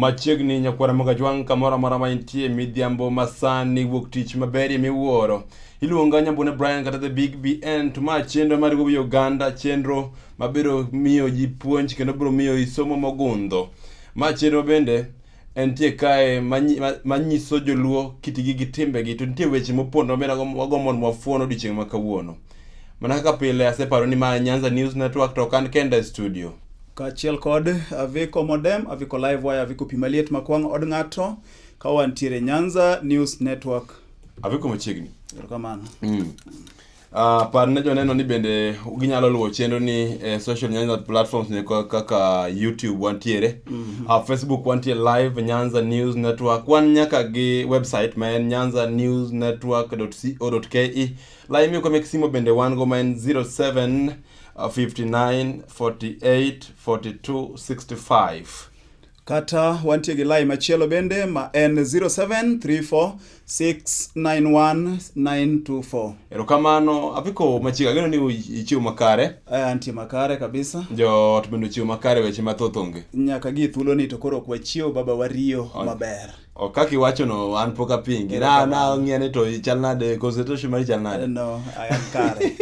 machiegni nyakwara mogajwang' kamoro amora ma intie midhiambo masani wuok tich maberie miwuoro iluonga nyambune brian kata the big bn to ma chenro mar gowi oganda chenro mabiro miyo ji puonj kendo biro miyo isomo mogundho ma chenro bende entie kae manyi- ma- manyiso joluo kitgi gi timbegi to nitie weche mopondo mabende agom- wagombo mondo wafuon odiechieng' ma kawuono mana kaka pile aseparo ni ma nyanza news network to ok an kenda e studio kaachiel kod aviko modem aviko live wire aviko pi maliet makwang' od ng'ato ka wantiere nyanza news network aviko machiegni erokamano mm. Uh, par ne joneno ni bende ginyalo luwo chenro ni eh, social nyanza platforms ne ka- kaka youtube wantiere mm -hmm. uh, facebook wantie live nyanza news network wan nyaka gi website ma en nyanza news network co ke laimi kwa mek simo bende wan go ma en 07 uh, 59 48 42 65 kata wantie gi lai machielo bende ma en 0734691924. Erokamano, apiko machiega ageno ni ichiwo makare. Eh, antie makare kabisa. Joot bende ochiwo makare weche mathoth onge. Nyaka gi thuolo ni to koro ok wachiwo baba wariyo maber. Oh, kaka iwachono an pok apingi na na ng'iyane to chal nade concentration mari chal nade no i am kare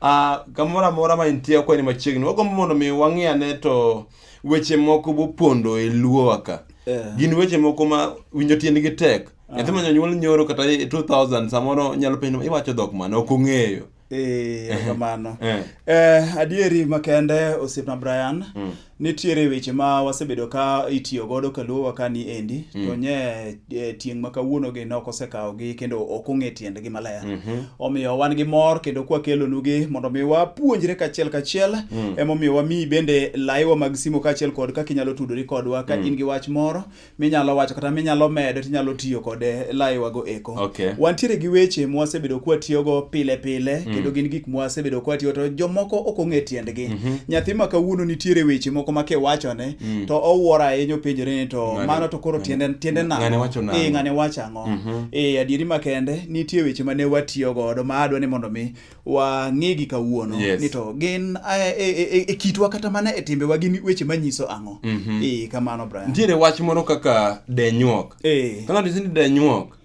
uh, kamoro amora ma intie okweni machiegni wagombo mondo mi wang'iyane to weche moko bopondo e luowa ka yeah. gin weche moko ma winjo tiendgi tek ah. nyathi ma nyonyuol nyoro kata 2000 e samoro nyalo penjo iwacho dhok mane ok ong'eyo eh, kamano eh. eh, adieri makende osiepna brian mm. nitiere weche ma wasebedo ka itiyo godo kaluowa ka ni endi mm. to nye E, tieng' ma kawuonogi ne ok osekawogi kendo ok ong'e tiendgi maler. Mm -hmm. Omiyo wan gi mor kendo kwakelonugi mondo mi wapuonjre kachiel kachiel mm. emomiyo wamiyi bende laiwa mag simo kachiel kod kaka inyalo tudori kodwa ka mm. in gi wach moro minyalo wacho kata minyalo medo tinyalo tiyo kode laiwago eko. Okay. Wantiere gi weche mwasebedo kwatiyogo pile pile mm. kendo gin gik mwasebedo kwatiyo to jomoko ok ong'e tiendgi. Mm -hmm. Nyathi ma kawuono nitiere weche moko ma kiwachone mm. to owuoro ahinya openjore ni to ngane, mano to koro tiende tiende na ngane wacho na eh ngane wacho ango mm -hmm. eh adieri makende nitie weche mane watiyo godo ma adwa ni mondo mi wa ng'igi kawuono yes. ni to gin e, e, e, e kitwa kata mana e timbe wa gin weche manyiso ango mm -hmm. eh kamano Brian nitiere wach moro kaka denyuok eh kana disini denyuok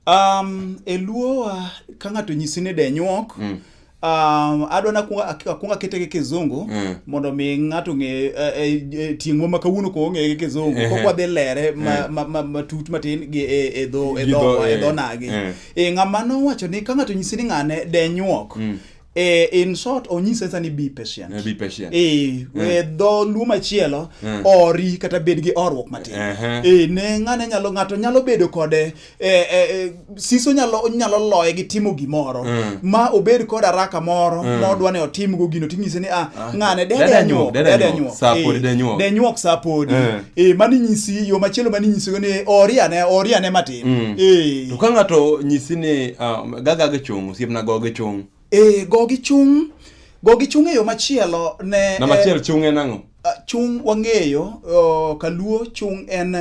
Um, e luo wa ka ng'ato nyisi ni denyuok mm. Um, adwa na akwongo akete gi kizungu mm. mondo mi ng'ato ng'e e, e, e, tieng'wa ma kawuono ko ong'e gi kizungu eh. kokwa dhi lere matut ma, ma, ma, ma matin gi e, e dho e dho e dho nagi e ng'ama nowacho ni ka ng'ato nyisi ni ng'ane denyuok mm. Eh, in short onyise nsa ni be patient Eh, be patient. Eh, eh, dho luo machielo Eh. ori kata bed gi orruok matin Ehe. Eh, ne ng'ane nyalo ng'ato nyalo bedo kode eh, eh, eh, siso nyalo nyalo loye gi timo gimoro Mm. ma obed kod araka moro modwa ni otimgo gino tinyise ni ah, ng'ane dede dede nyuok, anyuok dede dede anyuok, anyuok saa podi Eh, dede nyuok. dede nyuok saa podi Eh. Eh, mano inyisi yo machielo mano inyisigo ni ori ane ori ane matin mm. eh. to ka ng'ato nyisi ni uh, um, gaga gi chung' osiepna go gi chung' eh, go gi chung' go gi chung' e yo machielo ne na machiel eh, chung' en ang'o ah, chung' wang'eyo oh, kaluo chung' en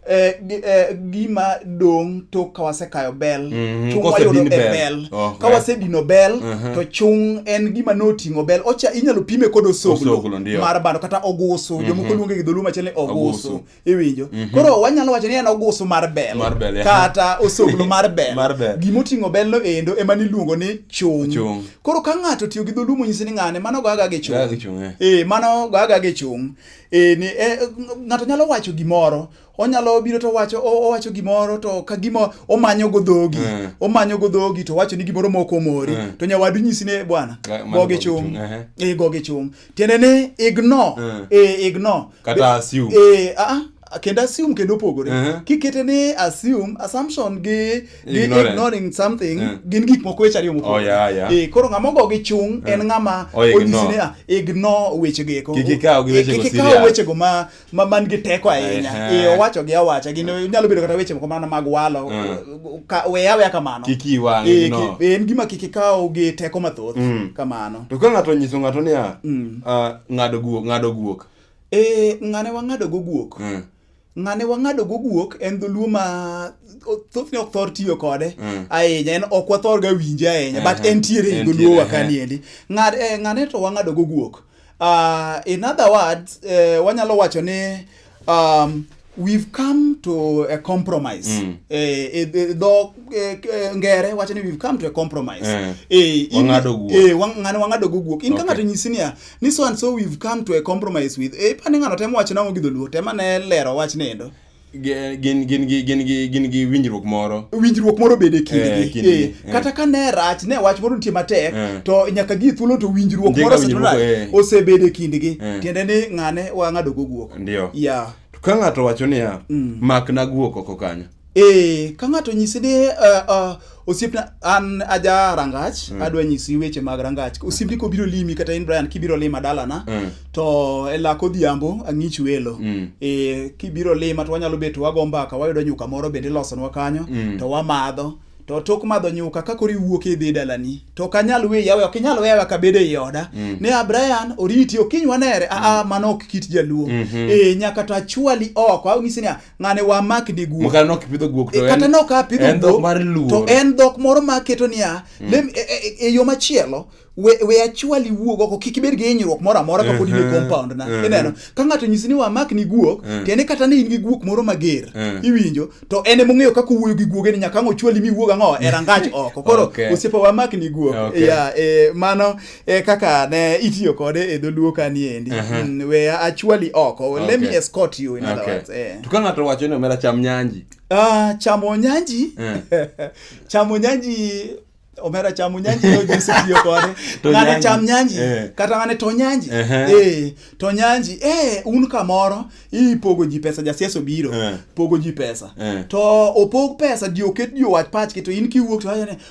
eh, eh, gima dong tok ka wasekayo bel mm -hmm. chung wayudo e bel, bel. Oh, okay. ka wasedino bel uh -huh. to chung en gima noting'o bel ocha inyalo pime kod osoglo mar bando kata ogusu mm -hmm. jomoko luonge gi dholuo machielo ni ogusu iwinjo mm -hmm. koro wanyalo wacho ni en ogusu mar bel, mar bel yeah. kata osoglo mar bel, mar bel. gima oting'o bel no endo ema niluongo ni chung. chung koro ka ng'ato tiyo gi dholuo monyisi ni ng'ane mano goyaga gi chung eh. eh, mano goyaga gi chung eh, ni eh, ng'ato nyalo wacho gimoro onyalo biro to wacho owacho gimoro to ka gima omanyo go dhogi mm. omanyo go dhogi to wacho ni gimoro moko omori mm. to nyawadu nyisi ne bwana goge chung eh e, goge chung tiende ni ignore mm. e eh, ignore kata assume e a ah, ah, kendo assume kendo opogore uh eh. -huh. kikete ni assume assumption gi, gi ignorant. ignoring something uh -huh. gin gik moko weche ariyo mopogore oh, yeah, yeah. e, koro ng'ama ogo gi chung uh -huh. en ng'ama oh, onyisi ni ignore ah, weche geko kikikaw gi weche go serious kikikaw weche go ma ma man gi teko ahinya Ehe. eh, owacho gi awacha gin nyalo bedo kata weche moko mana mag walo ka- we aweya kamano Kik iyi wang', Eh, no. ki- en gima kik ikaw gi teko mathoth Mm. kamano to ka ng'ato onyiso ng'ato niya Mm. ah, ng'ado guok ng'ado guok Eh, ng'ane wang'ado go guok Mm. ng'ane wang'ado go guok en dholuo ma o- thothne ok thor tiyo kode Mm. ahinya en ok wathorga winje ahinya but Ehe, entiere e entiere, dholuowa ehe. kaniendi Ng'ad- eh, ng'ane to wang'ado go guok Uh, in other words, uh, wanyalo wacho ni um, we've come to a compromise mm. eh, eh, eh dho eh, eh, ngere wacho ni we've come to a compromise eh, eh, wang'ado guok eh, wang'ano wang'ado guok in okay. ka ng'ato nyisi niya ni so and so we've come to a compromise with eh, pani ng'ano temo wacho nang'o gi dholuo tema ne lero wach nendo Ge- gin gin gi gin gi gin gi winjruok moro winjruok moro bede Eh, kindgi kindgi, Eh, eh. kata ka ne rach ne wach moro nitie matek Eh. to nyaka gi thuolo to winjruok Ndika moro winjruok, osetimore eh. osebede kindgi Eh. tiende ni ng'ane wang'ado go guok ndio ya To ka ng'ato wacho niya makna guok oko kanyo eh ka ng'ato nyisi ni eh, eh, osiepna an aja rangach mm. adwa nyisi weche mag rangach osiepni kobiro limi kata in brian kibiro lima dalana mm. to e lak odhiambo ang'ich welo mm. e, kibiro lima to wanyalo bet wago mbaka wayudo nyuka moro bende ilosonwa kanyo mm. to wamadho to tok madho nyuka ka koro iwuok idhi dalani to ok anyal we yawe ok inyal weyawa ka bedo ei oda mm. ne abrian oriti okinywa nere aa mm. mano ok kit jaluo mm -hmm. e, nyaka to achwali oko anyisi niya ng'ane wa mak ni guok mokana nok pidho guok to eh, kata nok a pidho en dhok mar luo to en dhok moro ma keto niya mm. lem e, e, e, e yo machielo we we achwali wuog oko kik ibed gi hinyruok moro amora kapod in e compound na ineno ka ng'ato nyisi ni wa mak ni guok to en kata ni in gi guok moro mager iwinjo to en e mong'eyo kaka wuoyo gi guoge ni nyaka ang' ochwali mi wuog ang'o e rangach oko koro osiepa wa mak ni guok ya e mano e kaka ne itiyo kode e dholuo ka ni endi uh -huh. mm, we actually oko oh, okay. let me escort you in okay. other words eh. to ka ng'ato wacho ni omera cham nyanji ah uh, chamo nyanji yeah. chamo nyanji omera chamo nyanji yo jinsi tiyo kode ng'ane cham nyanji eh. kata ng'ane to nyanji uh -huh. eh to nyanji eh un kamoro ipogo ji pesa jasiasa obiro eh. pogo ji pesa eh. to opog pesa di oket di owach pachki to in kiwuok to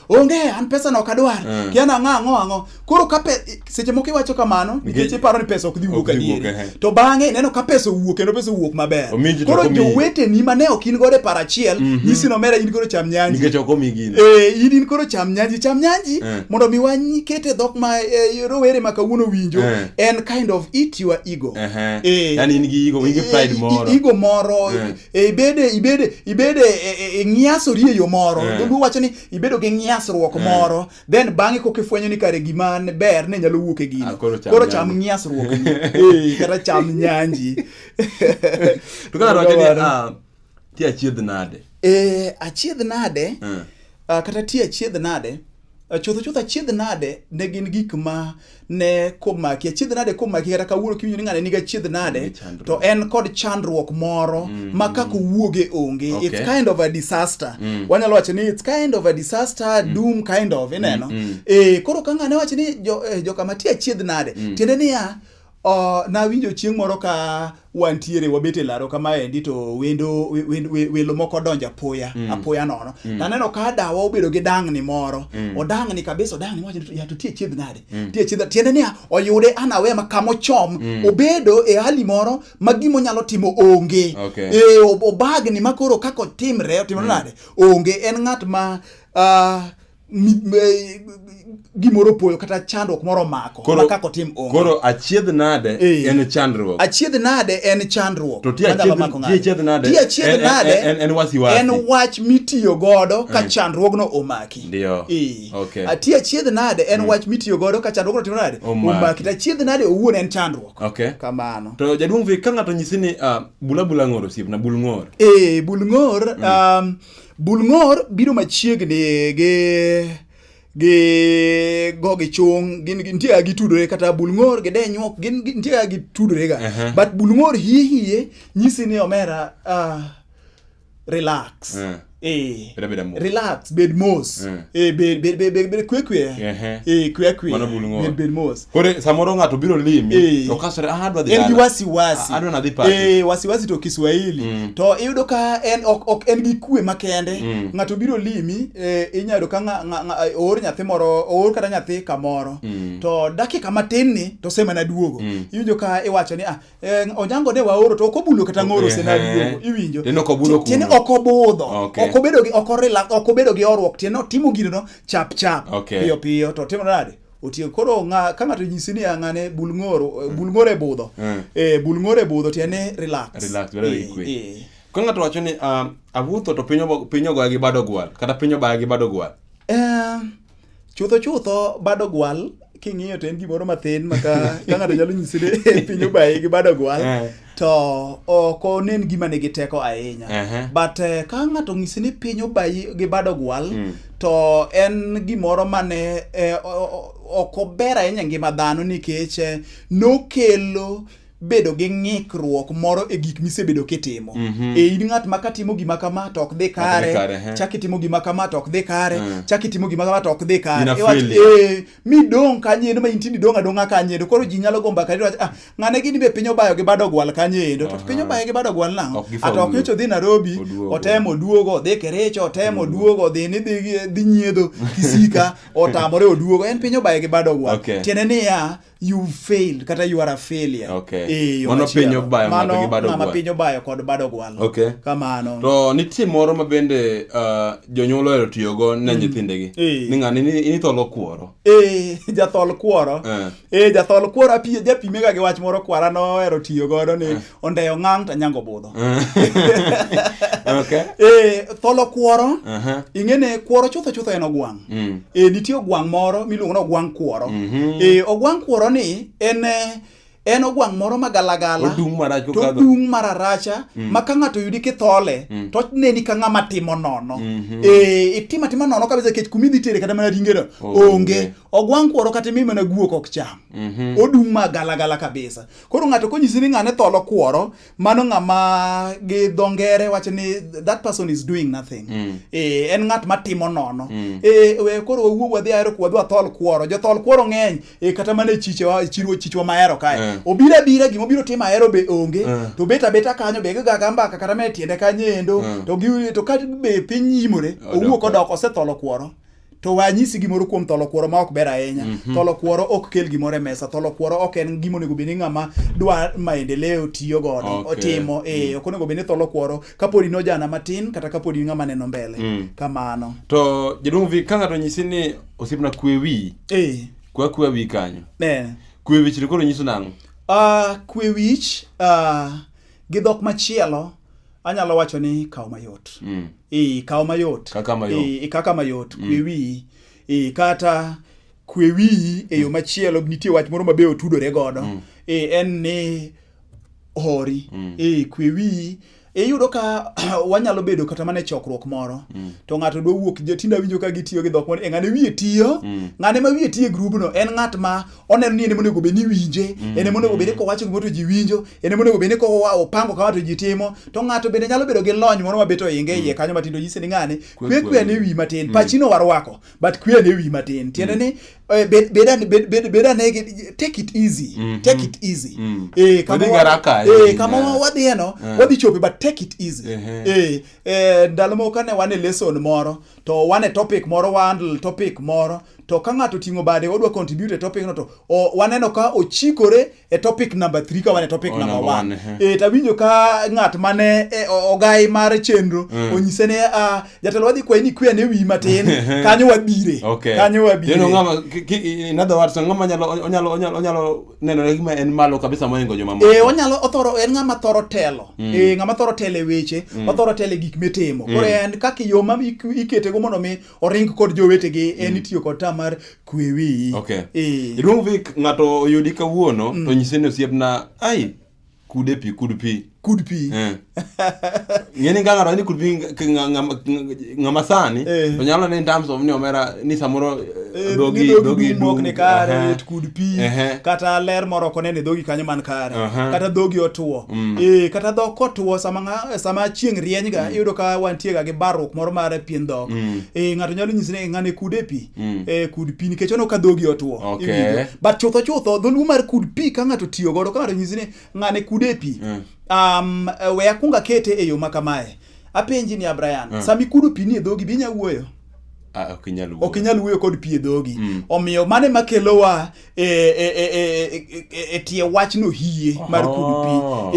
onge an pesa no kadwar uh. Eh. kiana ang'a ang'o ang'o koro ka seche moko iwacho kamano nikech iparo ni pesa ok dhi wuok adieri eh. to bang'e ineno ka pesa owuok kendo pesa owuok maber koro joweteni mane ok in godo e paro achiel mm -hmm. nyisi nomera in koro cham nyanji nikech ok omigi eh in in koro cham nyanji cham nyanji eh. mondo mi wanyi kete dhok ma eh, rowere ma kawuono winjo eh. en kind of eat your ego eh, eh. yani in gi ego in gi pride moro ego moro eh. e ibede ibede ibede e, e, ngiasori e yo moro yeah. dholuo wacho ni ibedo gi ngiasruok yeah. moro then bang'e koka ifwenyo ni kare gima ber ne nyalo wuok e gino ah, koro cham, koro cham ngiasruok e, kata cham nyanji to kaka wacho ni ah, ti achiedh nade e achiedh nade yeah. uh, kata ti achiedh nade chutho chutho achiedh nade ne gin gik ma ne komaki achiedh nade komaki kata kawuono kiwinjo ni ng'ane nigi achiedh nade to en kod chandruok moro mm, ma kaka mm. owuoge onge okay. it's kind of a disaster mm. wanyalo wacho ni it's kind of a disaster mm. doom kind of ineno mm, mm. e koro ka ng'ane wacho ni jo, eh, joka mati achiedh nade mm. tiende niya Uh, nawinjo chieng' moro ka wantiere wabet e laro kamaendi to wendo wendo- we- welo moko donjo apoya mm. apoya nono mm. taneno ka dawa obedo gi dang'ni moro mm. odang'ni kabisa odang'ni mowacho ni, ya to tie chiedh nade mm. tie chiedh tiende niya oyude anawe ma kamochom mm. obedo e hali moro ma gimo nyalo timo onge Okay. e, ob- obagni ma koro kaka otimre otimre mm. nade onge en ng'at ma uh, e, gimoro poyo kata chandruok moro mako koro, kaka otim onge. Koro achiedh nade e. en chandruok. Achiedh nade en chandruok. To ti achiedh nade. Ti achiedh nade en, en, en wasi wasi. En wach mitiyo godo ka mm. chandruogno omaki. Ndio. E. Okay. Ti achiedh nade en mm. wach mitiyo godo ka chandruogno timo nade? Omaki. To achiedh nade owuon en chandruok. Okay. Kamano. To jaduong' vi ka ng'ato nyisi ni uh, bula bula ng'or osiep na bul ng'or. Eh, bul ng'or mm. um, Bul ng'or biro machiegni gi gi go gi chung gin nitie ga gitudore kata bul ng'or gi denyuok gin nitie ga gitudore ga uh-huh. but bul ng'or hie hie nyisi ni omera uh, relax uh. Eh, relax bed mos eh. eh, bed bed bed bed kwe kwe eh, eh kwe kwe bed bed mos Kore samoro ng'ato biro limi eh. to kasore ah adwa dhi dala. En gi wasiwasi. Ah, adwa nadhi party. Eh wasiwasi to Kiswahili. Mm. To iyudo ka en ok ok en gi kue makende. Mm. Ng'ato biro limi eh, inyalo ka ng'a oor nyathi moro oor kata nyathi kamoro. Mm. To dakika matin ni to sema na duogo. Mm. Iwinjo ka iwacho ni ah eh, onyango de waoro to ok obulo kata ng'oro se na duogo. Iwinjo. Tiende ok obulo kuno. Tiende ok obudho. Okay. Ok obedo gi ok orila ok obedo gi orwok tiende otimo gino chap chap. Okay. Piyo piyo to timo nade? otieko koro nga ka ng'ato nyisi ni ang'ane bulngoro mm. bulngoro e budho mm. eh bulngoro e budho tiende relax relax bedo e, ikwe e. ka ng'ato wacho ni uh, awuotho to piny piny ogoya gi bado gwal kata piny obaya gi bado gwal eh chutho chutho bado gwal king'iyo to en gimoro mathin maka ka ng'ato nyalo nyisi ni piny obaye gi bado gwal eh. to ok onen gima nigi teko ahinya uh -huh. but uh, ka ng'ato ng'isi ni piny obayi gi bado gwal mm. to en gimoro mane eh, ok ober ahinya ngima dhano nikech eh, nokelo bedo gi ng'ikruok moro e gik misebedo kitimo mm -hmm. e in ng'at ma katimo gima kama to ok dhi kare chak itimo gima kama to ok dhi kare mm. chak itimo gima kama to ok dhi kare e, midong' kanyendo ma inti nidong' adong'a kanyendo koro ji nyalo go mbaka ni ah ng'ane gini be piny obayo gi bado gwal kanyendo to piny obayo gi bado gwal nang'o ata ok nyocha odhi Nairobi otemo oduogo odhi Kericho otemo oduogo odhi ni dhi nyiedho kisika otamore oduogo en piny obayo gi bado gwal tiende niya you failed kata you are a failure okay. e, mano piny obayo mano ng'ama piny obayo kod bado gwal okay. kamano to nitie moro ma bende uh, jonyuol ohero tiyogo ne mm. nyithindegi eh. ni ng'ani ni tholo kuoro eh, jathol kuoro eh. eh jathol kuoro apiye japimega gi wach moro kwara nohero tiyo godo ni ondeyo ng'ang' to nyango budho eh tholo kuoro ing'e ne kuoro chutho chutho en ogwang' mm. eh nitie ogwang' moro miluongo ni ogwang' kuoro mm-hmm. eh ogwang' kuoro ni en en ogwang' moro ma galagala to odung' mararacha mm. ma ka ng'ato yudi kithole mm. to neni ka ng'ama timo nono mm-hmm. eh, itimo atima nono kabisa kech kuma idhi tere kata mana ringeno onge ogwang' kuoro kata imi mana guok ok cham mm-hmm. odung' ma galagala kabisa koro ng'ato konyisi ni ng'ane tholo kuoro mano ng'ama gi dho ngere wacho ni that person is doing nothing mm. e, en ng'at matimo nono mm. e, we, koro wawuog wadhi ahero wadhi wathol kuoro jothol kuoro ng'eny e, kata mana e chichewa chiruo chichwa mahero kae yeah. obiro abira gima obiro timo ahero be onge yeah. to bet abeta kanyo be gigaga mbaka kata me tiende kanyo endo yeah. to, to ka be piny yimore owuok odok osetholo kuoro to we anyisi gimoro kuom tholo kuoro ma ok ber ahinya mm -hmm. tholo kuoro ok kel gimoro e mesa tholo kuoro ok en gima onego bed ni ng'ama dwa maendeleo tiyo godo okay. otimo e mm. ok onego bed ni tholo kuoro kapodi ni ojana matin kata kapodi ni ng'ama neno mbele mm. kamano to jaduong' vi ka ng'ato nyisi ni osiepna kwe wi e. kwa kwe wi kanyo e. kwe wich to koro nyiso nang'o uh, kwe wich uh, gi dhok machielo anyalo wacho ni kawo mayot mm. e, kawo mayot kaka mayot, e, e kaka mayot mm. kwewi e, kata kwewi e yo mm. machielo nitie wach moro mabe otudore godo mm. e, en ni hori mm. e, kwewi iyudo ka wanyalo bedo kata mana e chokruok moro mm. to ng'ato dwa wuok tinde awinjo ka gitiyo gi dhok moro e ng'ane wiye tiyo mm. ng'ane ma wiye tiyo e grubno en ng'at ma oneno ni en ema onego bed ni winje mm. en ema onego bed ni kowacho gimoro to ji winjo en ema onego bed ni kopango kama to ji timo to ng'ato bende nyalo bedo gi lony moro mabet oinge iye mm. kanyo matindo nyise ni ng'ane kwe kwe ne wi matin mm. pachino warwako but kwe ne wi matin tiende ni eh, bed ane take it easy mm-hmm. take it easy eh kama eh kama wadhi eno eh. wadhi chope but take it easy eh, eh ndalo moko kane wan e lesson moro to wane topic moro wandle topic moro to ka ng'ato ting'o bade odwa contribute e topic no to o, waneno ka ochikore e topic number 3 ka wane topic oh, number 1 eh tawinjo ka ng'at mane e, ogai mar chenro mm. onyise ne uh, jatelo wadhi kwayi ni kwe ne wi matin kanyo wabire okay. kanyo wabire you know, ngama, in other words ngama nyalo onyalo onyalo onyalo nenore gima en malo kabisa moingo joma moko. Eh, onyalo othoro en ng'ama thoro telo. Mm. Eh, ng'ama thoro telo e weche, mm. othoro telo e gik mitimo. Mm. Koro en kaka yo ma ikete go mondo mi oring kod jowetegi en mm. itiyo kod ta mar kwe wiyi. Okay. Eh. Iluong Vic ng'ato oyudi kawuono mm. to nyise ni osiepna ai kude pi kud pi kud pi eh. ng'eni ka ng'ato ni kud pi ng'ama sani eh. to nyalo ni in terms of ni omera ni samoro eh, dhogi dhogi mok ni kare uh -huh. kud pi uh -huh. kata ler moro kone ni dhogi kanyo man kare uh -huh. kata dhogi otuo mm. eh kata dhok otuo sama nga, sama chieng' rieny ga mm. iyudo ka wantie ga gi barruok moro mar pien dhok mm. eh ng'ato nyalo nyisi ni ng'ane kude pi Mm. Eh, kud pi nikech ono ka dhogi otuo okay. but chutho chutho dholuo mar kud pi ka ng'ato tiyo godo ka ng'ato nyisi ni ng'ane kude pi mm. um, eh, we akwong akete e yo ma kamae apenji ni abrayan mm. sami kudo pi ni e dhogi binya wuoyo Ah, ok inyal wuoyo kod pi e dhogi mm. omiyo mane makelowa e, e, e, e tie wachno hie mar kudu pi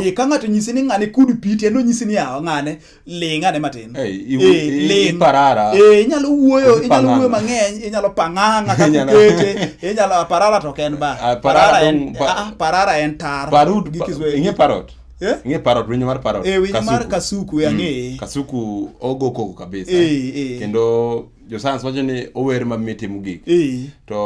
oh. ka ng'ato nyisi ni ng'ane kudu pi tiende onyisi ni yawa ng'ane ling ane matin Hey, i- Eh, i- i- ling. iparara. Eh, inyalo wuoyo Kose inyalo wuoyo pang'ang'a. mang'eny inyalo pang'ang'a kaka Inyalo- ukete inyalo ah, parara to ok en ba Ah, parara parara en dong- pa- ah, ah, parara en tar Parut, gi pa- Kiswahili. ing'e parot. Eh? Ing'e parot, winyo mar parot. Eh, winyo mar kasuku e ang'eye. Kasuku ogo koko kabisa. Eh, eh. Kendo josans wacho ni ower mamit timo gik eh. to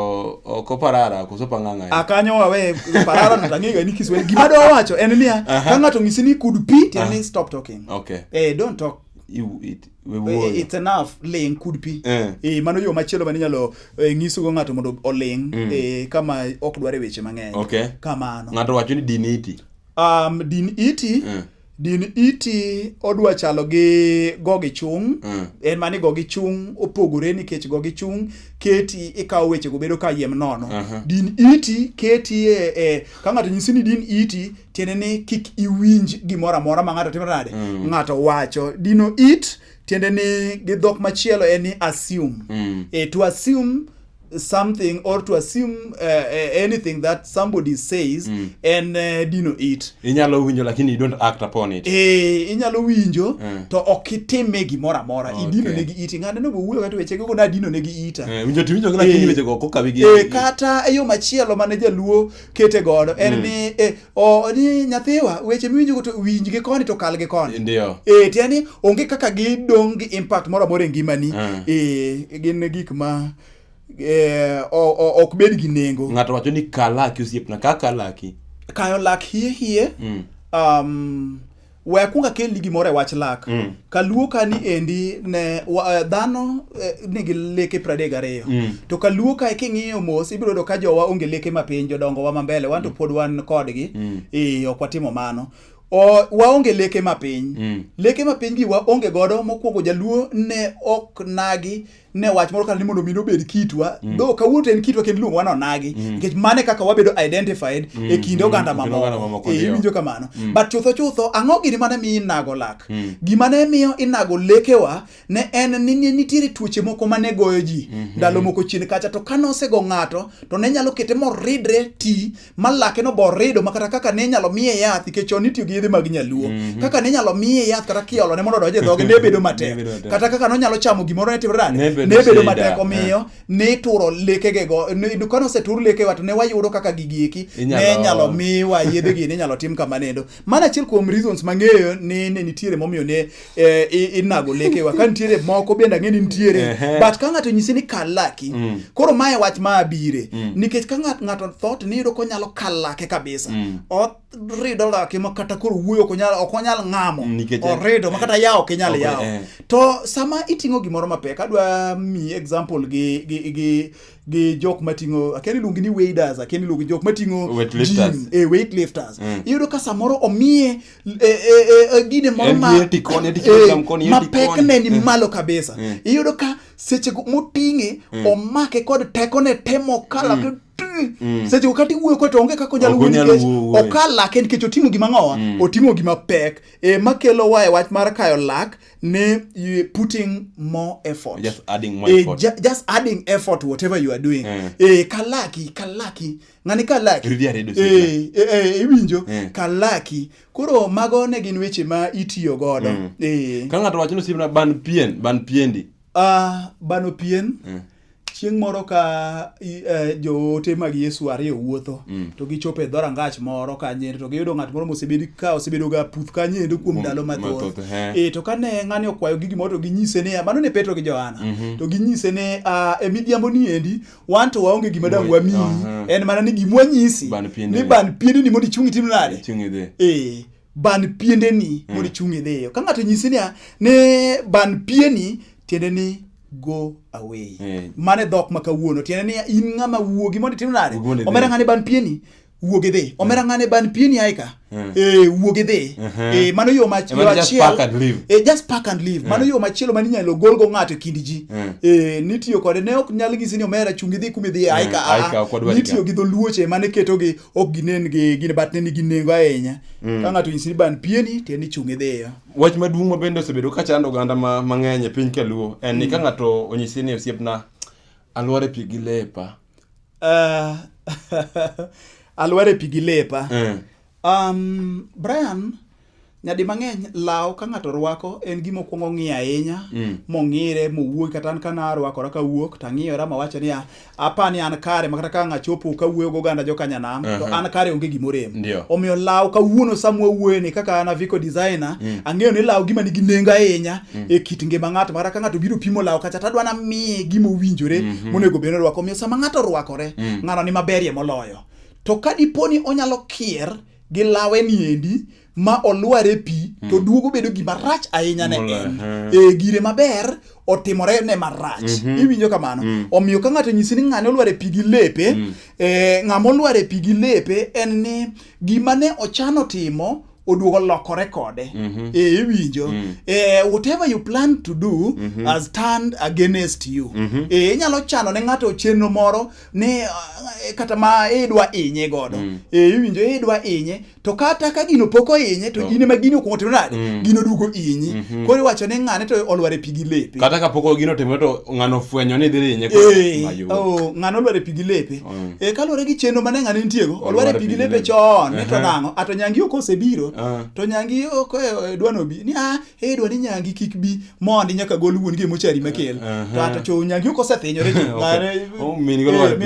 ok oparara koso pang'ang'a akanyo wawe parara no tang'ega ni kiswahili gima do wacho en niya ka ng'ato ng'isi ni could be tiende ni stop talking okay eh don't talk you it Eh, it's enough ling could be eh. eh mano yo machielo mane inyalo eh, nyiso go ng'ato mondo oling mm. eh, kama ok dware weche mang'eny okay. kamano ng'ato wacho ni diniti um, diniti mm. din iti odwa chalo gi gogi chung mm. en mani gogi chung opogore nikech gogi chung keti ikawo weche go bedo ka yiem nono uh -huh. din iti keti e, e ka ng'ato nyisi ni din iti tiende ni kik iwinj gimoro amora ma ng'ato timo nade mm. ng'ato wacho dino it tiende ni gi dhok machielo en ni assume mm. e, to assume something or to assume uh, uh, anything that somebody says mm. and uh, dino it inyalo winjo lakini you don't act upon it eh inyalo winjo mm. to ok itime gimoro amora okay. idino ne gi iti ng'ane no wuoyo kata weche go na dino ne gi ita eh winjo ti winjo lakini eh. weche go kokawi gi eh kata eyo machielo mane jaluo kete godo en mm. ni eh, o ni nyathiwa weche miwinjogo to winjgi koni to kal gi koni ndio e, tiya ni onge kaka gidong' gi impact moro amora e ngimani mm. e, gin gik ma e, ok bed gi nengo ng'ato wacho ni kalaki osiepna ka kalaki kayo lak hie hie mm. um, we akwonga kelni gimoro e wach lak mm. kaluo kani endi ne wa, eh, dhano eh, nigi leke pradek gariyo mm. to kaluo kae king'iyo mos ibiro yudo ka jowa onge leke mapiny jodongo wa mambele wan to mm. pod wan kodgi mm. e, ok watimo mano O, waonge leke mapiny mm. leke mapiny gi waonge godo mokwongo jaluo ne ok nagi ne wach moro kata ni mondo mi nobed kitwa mm. though kawuono to en kitwa kendo iluongo wan onagi mm. nikech mane kaka wabedo identified mm. e kinde mm. oganda mm. mamoko e iwinjo kamano mm. but chutho chutho ang'o gini mane miyo inago lak mm. gima ne miyo inago lekewa ne en ni nitiere tuoche moko mane goyo ji mm -hmm. ndalo moko chien kacha to kane osego ng'ato to ne nyalo kete moridre ti ma lake no bor rido ma kata kaka ne inyalo miye yath nikech chon itiyo gi yedhe mag nyaluo mm -hmm. kaka ne inyalo miye yath kata kiolo ne mondo odonje dhoge ne bedo matek kata kaka nonyalo chamo gimoro ne timore ne bedo matek eh. omiyo ne ituro lekege go kane osetur leke wato ne wayudo kaka gigi eki ne inyalo miwa yedhe gi ne inyalo tim kama nendo mana achiel kuom reasons mang'eyo ni ne nitiere momiyo ne eh, i- inago lekewa ka nitiere moko bende ang'e ni nitiere Ehe. but ka ng'ato nyisi ni kal laki Mm. koro mae wach ma abire Mm. nikech ka ng'at- ng'ato thot niyudo konyalo kal lake kabisa Mm. orido lake ma kata koro wuoyo ok onyal- ok onyal ng'amo Mm, nikech- orido ma kata yawo ok inyal Ok, yawo eh. to sama iting'o gimoro mapek adwa mi example gi, gi, gi, gi jok mating'o akia ni iluongi ni waders akia ni iluongi jok mating'o Weightlifters. gym, eh, weightlifters Mm. iyudo ka samoro omiye e, e, e, gine moro mapekne ni malo kabisa iyudo ka sechego moting'e omake kod tekone temo kala mm. Mm. seche kata iwuoyo kod to onge kaka onyalo wuoyo nikech okal lak en nikech oting'o gima ng'owa mm. oting'o gima pek e makelo wa e wach mar kayo lak ne putting more effort just adding, more e, effort. Ju just adding effort whatever you are doing mm. e kalaki kalaki ng'ani kalaki Rudia redo sika. Eh, eh, eh, iwinjo Eh. kalaki koro mago ne gin weche ma itiyo godo Mm. Eh. Ka ng'ato wacho ni osiepna ban pien, ban piendi. Ah, bano pien Mm. chieng' moro ka i- eh, joote mag yesu ariyo wuotho Mm. to gichopo e dhorangach moro kanyendo to giyudo ng'at moro mosebedi ka osebedo ga puth kanyendo kuom Kuom- ndalo mathoth mathoth, eh. e to kane ng'ani okwayo gigi moro to ginyise niya mano ne petro gi johana Mhm. to ginyise ni ah, e midhiambo ni endi wan to waonge gima dang' wamiyi Aha. en mana ni gima wanyisi Ban piendeni. ni ban piendeni mondo ichung' itim nade Ichung' idhi. ee ban piendeni mondo ichung' idhiyo ka ng'ato nyisi niya ni ban pieni tiende ni go away Eh. mane dhok ma kawuono tiende ni in ng'ama wuogi mondo itim nade Wuogi mondo idhi. omera ng'ani ban pieni wuog idhi hmm. omera ng'ane ban pieni ae ka hmm. eh, wuog idhi uh-huh. eh, mano yo machielo eh, just pack and leave hmm. mano yo machielo mani inyalo golgo ng'ato e kind ji nitiyo kode ne ok nyal ng'isi ni omera chung idhi kuma idhi ae ka ah, nitiyo gi dholuoche mane ketogi ok ginen gi gin bat ne nigi nengo ahinya ka ng'ato nyisi ni ban pieni tiende ni chung idhiyo wach maduong' ma bende osebedo ka chando oganda mang'eny e piny kaluo en ni ka ng'ato onyisi ni osiepna alwore pi gi lepa Uh, alware pi gi lepa. Eh. Um, Brian, nyadi mang'eny law ka ng'ato rwako en gima okuongo ong'iyo ahinya mm. mong'ire mowuogi kata an kana arwakora ka wuok to ang'iyora mawacho niya apa ni an kare makata ka ng'achopo ka wuoyo goganda jokanyanam uh -huh. to an kare onge gimorem omiyo law kawuono sama wawuoyeni kaka an aviko designer mm. ang'eyo ni law gima nigi nengo ahinya mm. e kit ngima ng'ato mara ka ng'ato biro pimo lawo kacha tadwa namiye gima owinjore mm -hmm. monego bed norwako omiyo sama ng'ato orwakore mm. ng'ano ni maberie moloyo to ka dipo ni onyalo kier gi lawe ni endi ma olwar e pi mm. to duogo bedo gima rach ahinya ne en e gire maber otimore ne marach mm -hmm. iwinjo kamano mm. omiyo ka ng'ato nyisi ni ng'ane olwar e pi gi lepe mm. e, ng'ama olwar e pi gi lepe en ni gima ne ochano timo oduogo lokore kode mm -hmm. e iwinjo mm -hmm. e, whatever you plan to do mm -hmm. has turned against you mm -hmm. e, inyalo chano ne ng'ato chenro moro ni e, kata ma idwa inye godo mm -hmm. e, iwinjo idwa inye to kata ka gino pok oinye to oh. in ema gini ok otimo nade mm -hmm. gino duogo inyi mm -hmm. koro iwacho ni ng'ane to olwar e pigi lepe kata ka pok gino otimo to ng'ano fwenyo ni dhi inye e, oh, ng'ano olwar e pigi lepe mm. e kaluwore gi chenro mane ng'ane nitiego olwar e pigi lepe chon ni to nang'o ato nyangi ok osebiro ah. to nyangi ok e, e, dwano bi ni a ah, e dwa ni nyangi kik bi mondi nyaka gol wuon gi e mochari makel to ato cho nyangi ok osethinyore ji mare oh, min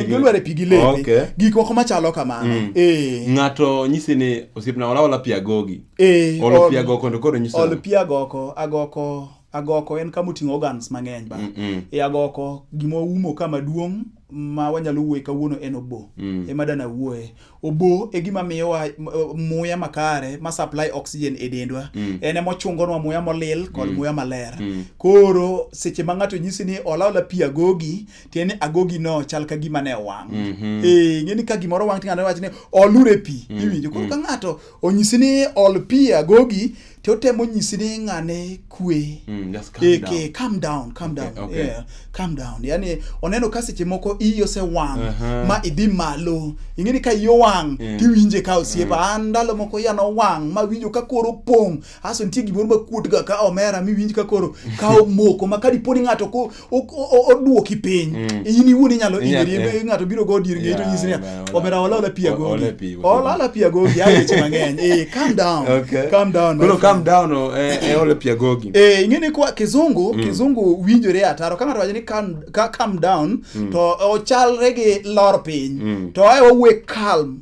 gi olwar e pigi lepe gik moko machalo kamano mm. e ng'ato nyisi ni osiepna wala wala pia gogi e ol pia goko ndo koro nyisi ol pia goko agoko agoko en kama oting'o organs mang'eny ba mm -mm. e agoko gima oumo kama duong' ma wanyalo wuoye kawuono en obo mm. ema dana wuoye obo e gima miyowa eh, muya makare ma supply oxygen e dendwa mm. en ema ochungonwa muya molil kod mm. muya maler mm. koro seche ma ng'ato nyisi ni olaola pi agogi tiende ni agogi no chal ka gima ne wang' mm -hmm. e, eh, ng'eni ka gimoro wang' ting'ato wacho ni olure pi mm. iwinjo koro mm. ka ng'ato onyisi ni ol pi agogi to otemo nyisi ni ng'ane kwe Mm, just calm Eh, down. ke- calm down calm Okay, down okay. yeah, calm down yani oneno ka seche moko iyi osewang' Aha. ma idhi malo ing'eni ka iyi owang' Mm. tiwinje ka osiepa an ndalo moko iya nowang' ma winjo ka koro pong' aso nitie gimoro ma kuotga ka omera miwinj ka koro ka omoko ma ka dipo ni ng'ato ko- oduoki piny mm. in iwuon inyalo inyeri eh. ng'ato biro go dir ng'eto nyisi niya omera ola ola pi agogi ola ola pi agogi ya weche mang'eny eh calm down okay. calm down koro calm down oh, eh, eh ola pi agogi eh ing'e ni kwa kizungu mm. kizungu winjore ataro ka ng'ato wacho ni calm calm down mm. to ochalre gi lor piny mm. to ae wawe calm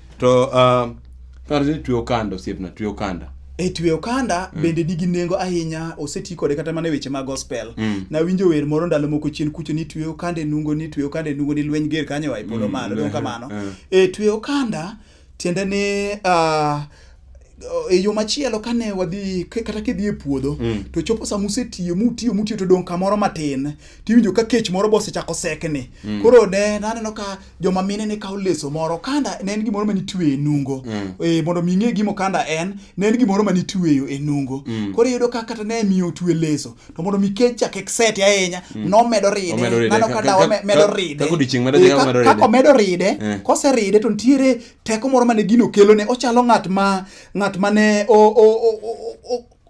to um, kar ni tweyo kanda osiepna tweyo kanda e tweyo kanda mm. bende nigi nengo ahinya oseti kode kata mana e weche mag gospel mm. nawinjo wer moro ndalo moko chien kucho ni tweyo kanda e nungo ni tweyo kanda e nungo ni lweny ger kanyo wa e polo mm. malo mm. kamano e tweyo kanda tiende ni uh, e yo machielo kane wadhi kata kidhi e puodho mm. to chopo sama usetiyo mutiyo mutiyo to dong' kamoro matin tiwinjo ka kech moro bosechako sekni mm. koro ne naneno ka joma mine ne kawo leso moro kanda ne en gimoro manitweyo e nungo mm. e, mondo mi ing'e gimo kanda en ne en gimoro manitweyo e nungo mm. koro iyudo ka kata ne miyo otwe leso to mondo mi kech chak ekseti ahinya mm. nomedo ride nano ka dawa medo ride e, kako medo ride eh. koseride to nitiere Teko moro mane gino kelo ne ochalo ng'at ma ng'at mane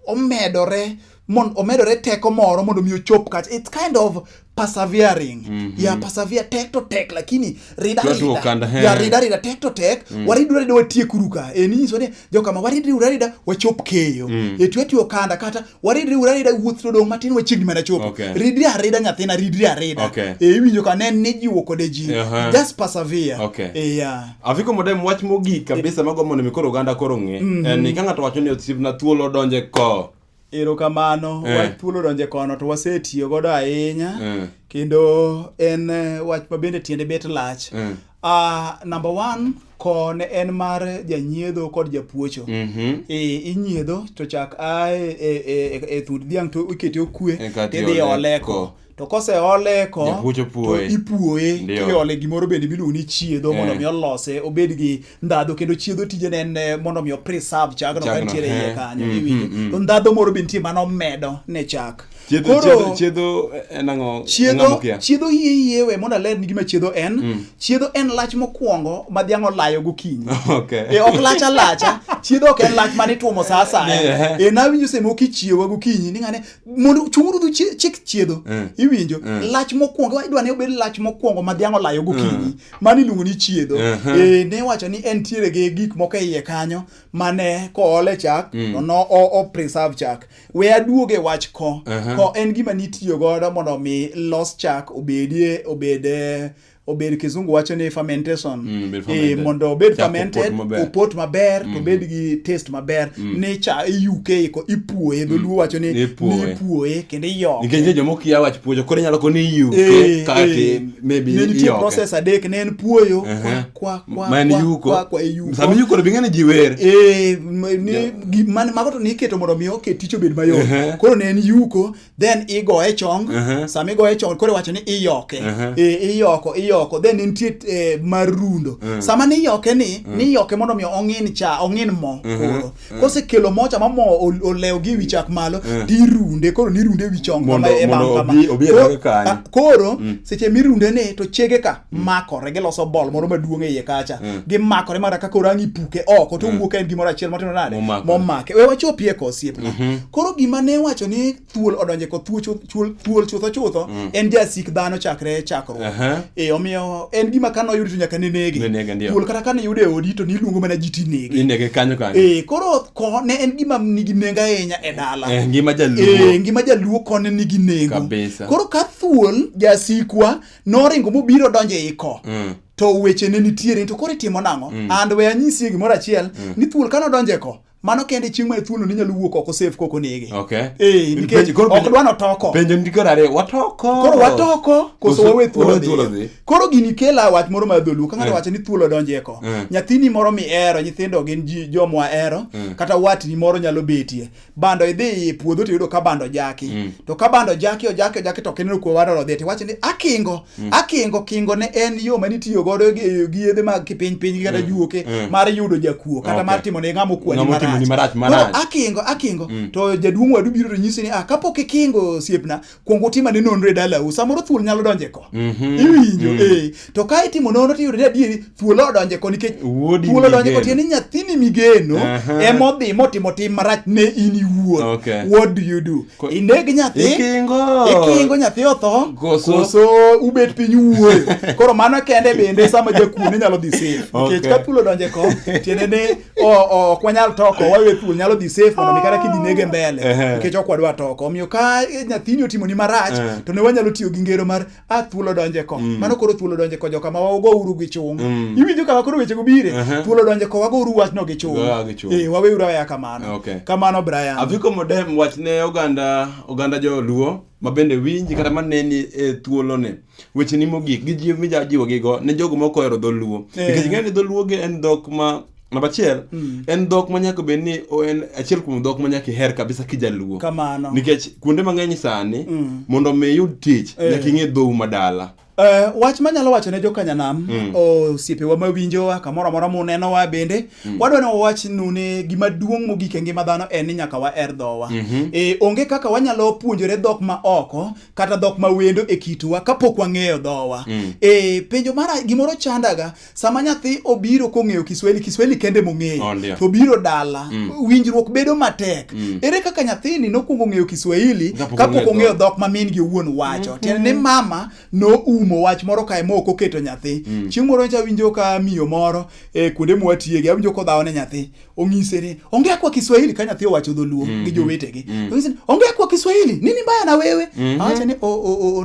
omedore mon omedore teko moro mondo mi ochop kacha it's kind of persevering mm -hmm. ya persevere tek to tek lakini rida rida ya rida rida tek to tek mm. waridu rida watie kuruka e ni so ni jokama waridri urarida wachop keyo mm. etu eti okanda kata waridri urarida wuoth to dong matin wachiegni mana chopo okay. ridri arida nyathina ridri arida okay. e iwinjo ka ne ni jiwo kode ji uh -huh. just persevere okay. e ya afiko modem wach mogik kabisa e. mago mondo mikoro oganda koro ng'e mm -hmm. en ka ng'ato wacho ni osiepna thuolo donje ko Erokamano, eh. wach thuolo donje kono to wasetiyo godo ahinya eh. kendo en eh, wach ma bende tiende bet lach. Eh. Uh, number one ko ne en mar janyiedho kod japuocho mm -hmm. e, inyiedho to chak ae e, e, e, e thund dhiang' to ikete okwe e, tidhi oleko to koseole eko Japuo to opuoye. ipuoye Ndio. kiole gimoro bende miluongo ni chiedho mondo Eh. mi olose obed gi ndhadho kendo chiedho tijene en eh, mondo mi opreserve chagno ka Chagno, nitiere eh. iye kanyo Mm, iwinjo mm, mm. to ndhadho moro be nitie mano medo ne chak Chiedho- chiedho- chiedho en ang'o? Ang'o chiedho mokia? chiedho iye iye we mondo aler ni gima chiedho en chiedho en lach mokwongo ma dhiang' olayo gokinyi Okay. e ok lach alacha chiedho ok en lach mane itwomo sa asaya Yeah. e nawinjo sema okichiewa gokinyi ni ng'ane mondo chunguru du chik chiedho mm. iwinjo mm. lach mokwongo idwa ne obed lach mokwongo ma dhiang' olayo gokinyi mm. mano iluongo ni chiedho uh eh, -huh. e, ne wacho ni en tiere gi gik moko e iye kanyo mane koole chak mm. to no o, o preserve chak we aduog e wach ko uh -huh. ko en gima nitiyo godo mondo mi los chak obedie obede obed kizungu wacho ni fermentation mm, e, mondo obed fermented opot maber to mm. obed gi taste maber mm. ni cha iyuke iko ipuoye mm. dholuo wacho ni ipuoye kendo iyoke nikech joma ok ya wach puoyo koro inyalo koni iyuke eh, kati eh. maybe iyoke nitie process adek ne en puoyo uh-huh. kwa kwa man yuko kwa kwa yuko sami yuko bi ngani jiwer eh ni man mago to niketo mondo mi oke tich obed mayot uh-huh. koro ne en yuko then igoye chong uh -huh. sama igoye chong koro wacho ni iyoke uh -huh. e, iyoko iyoko then nitie e, marundo uh -huh. sama niyoke ni uh -huh. niyoke mondo mi ong'in cha ong'in mo uh -huh. koro uh -huh. kose kelo mo cha ma mo olew gi wichak malo uh -huh. tirunde koro nirunde wichong kama e bang kama koro mm. seche mirunde ni to chege ka Mm. makore giloso bol moro maduong' e iye kacha mm. gimakore mara kaka orang' ipuke oko to mm. owuok en gimoro achiel matino nade momake we wachopie ko osiepna mm-hmm. koro gima ne wacho ni thuol odonje ko thuol chutho chutho en jasik dhano chakre chakruok uh-huh. e omiyo en gima ka noyudi to nyaka nenege thuol kata ka niyude e odi to niluongo mana ji tinege e koro ko ne en gima nigi nengo ahinya e dala eh, ngima jaluo eh, kone nigi nengo koro ka thuol jasikwa noringo mobiro donjo e iko mm. to weche ne nitiere to koro itimo nang'o mm. and we anyisie gimoro achiel mm. ni thuol kane odonjo e ko mano kende chieng' mae thuolo ninyalo wuok oko safe kok onege okay. e, nikech ok dwa notoko koro watoko koso wawe thuolo dhi koro gini kela wach moro mar dholuo ka ng'ato eh. wacho ni thuolo donje ko eh. nyathini moro mihero nyithindo gin ji jomwa hero eh. kata watni moro nyalo betie bando idhi e puodho to yudo ka bando jaki mm. to ka bando jaki ojaki ojaki to kineno kuo wadoro dhi tiwacho ni akingo mm. akingo kingo ne en yo ma nitiyo godo gi gi yedhe mag kipiny piny kata mm. juoke mm. mar yudo jakuo kata okay. mar timo ne ng'amo kuani marach marach marach akingo akingo mm. to jaduong' wadu biro to nyisi ni ah kapok ikingo siepna kwong utim ane nonro e dalau samoro thuol nyalo donje ko mm -hmm. iwinjo mm -hmm. e to ka itimo nonro to yudore adieri thuol odonje ko nikech thuol odonje ko tiende nyathini migeno uh -huh. emodhi motimo tim marach ne in iwuon okay. what do you do ko, ineg nyathi ikingo ikingo nyathi otho koso, koso ubet piny uwuoyo koro mano kende bende sama jakuo ne nyalo dhi safe nikech okay. ka thuol odonje ko tiende ne ok wanyal toko wawe thuol nyalo dhi safe mondo mi kata kidhi nege mbele nikech ok wadwa toko omiyo ka nyathini otimoni marach to ne wanyalo tiyo gi ngero mar a thuol odonje ko mm. mano koro thuol odonje ko joka ma wago uru gi chung mm. iwinjo kama koro wechego bire thuol odonje ko wago uru wachno gi chung eh wawe uru aya kamano kamano Brian aviko modem wachne oganda oganda joluo ma bende winji kata maneni e thuolone wecheni mogik gi jiw mija jiwo gi go ne jogo moko ohero dholuo Eh. nikech ing'eyo ni dholuo gi en dhok ma namba achiel Mm. en dhok ma nyaka bed ni o- en achiel kuom dhok ma nyaka iher kabisa kijaluo kamano nikech kuonde mang'eny sani Mm. mondo mi iyud tich Eh. nyaka ing'e dhou madala Eh, wach manyalo wacho ne jokanyanam Mm. osiepewa mawinjowa kamoro amora munenowa bende wadwa ni wawachnu ni gima duong' mogik e ngima dhano en ni nyaka waher dhowa Mhm. Eh, onge kaka wanyalo puonjore dhok ma oko kata dhok ma wendo e kitwa kapok wang'eyo dhowa mm. e, penjo mara gimoro chandaga sama nyathi obiro kong'eyo kiswahili kiswahili kende mong'eyo oh, to biro dala mm. winjruok bedo matek mm. ere kaka nyathini nokwongo ng'eyo kiswahili kapok ong'eyo dhok ma min gi owuon wacho mm -hmm. tiende ni mama noumo wach moro kae ma ok oketo nyathi mm. chieng' moro nyacha winjo ka miyo moro e, kuonde mwatiege awinjo kodhawo ne nyathi ong'ise ni ongea kwa Kiswahili ka nyathi owacho dholuo mm -hmm. gi jowetegi mm -hmm. ong'ise ni ongea kwa Kiswahili nini mbaya na wewe mm -hmm. awacha ni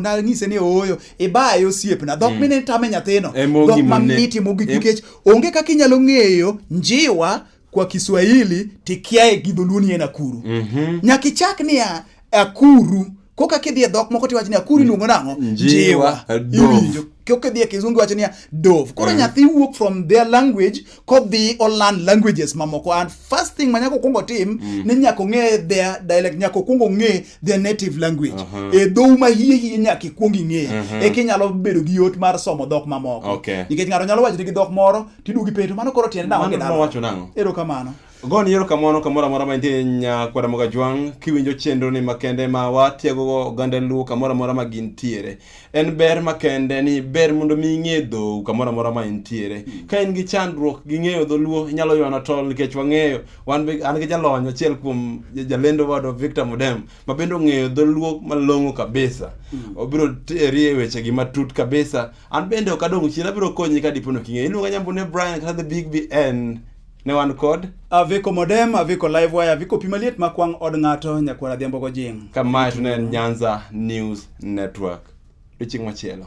nang'ise ni ooyo ibaye osiepna dhok mm -hmm. mine tame nyathino e dhok mamiti mogik e nikech onge kaka inyalo ng'eyo njiwa kwa Kiswahili tikiae gi dholuo ni en akuru mm -hmm. nyaka ichak niya akuru koka kidhi e dhok moko tiwacho niya kuru iluongo nang'o njiwa iwinjo koka idhi e kizungu iwacho niya dove koro eh. nyathi wuok from their language kodhi oland languages mamoko and first thing ma nyaka okwongo tim mm. ni nyaka ong'e their dialect nyaka okwongo ong'e their native language uh-huh. e dhou ma hie hie nyaka ikwong ing'e uh-huh. eka inyalo bedo gi yot mar somo dhok mamoko nikech ng'ato nyalo wachoni gi dhok moro tiduogi penjo mano koro tiende nang'o gi dhano erokamano Goni erokamano kamoro amora ma intie nyakwara Mogajwang' kiwinjo chenroni makende ma watiegogo oganda Luo kamoro amora ma gintiere. En ber makende ni ber mondo mi ing'e dhou kamoro amora ma intiere. Hmm. Ka in gi chandruok gi ng'eyo dholuo inyalo ywana tol nikech wang'eyo wan be an gi jalony achiel kuom jalendo wadwa Victor Mudem ma bende ong'eyo dholuo malong'o kabisa. Hmm. Obiro teri e wechegi matut kabisa. An bende ok adong' chien abiro konyi ka dipo ni ok ing'eyo. Iluonga Nyambune Brian kata the Big BN. Ne wan kod Aviko Modem, Aviko Livewire, Aviko Pi Maliet ma kwang' od ng'ato, Nyakwar Adhiambo Gojing'. ka mae to ne en Nyanza News Network. Odiechieng' machielo.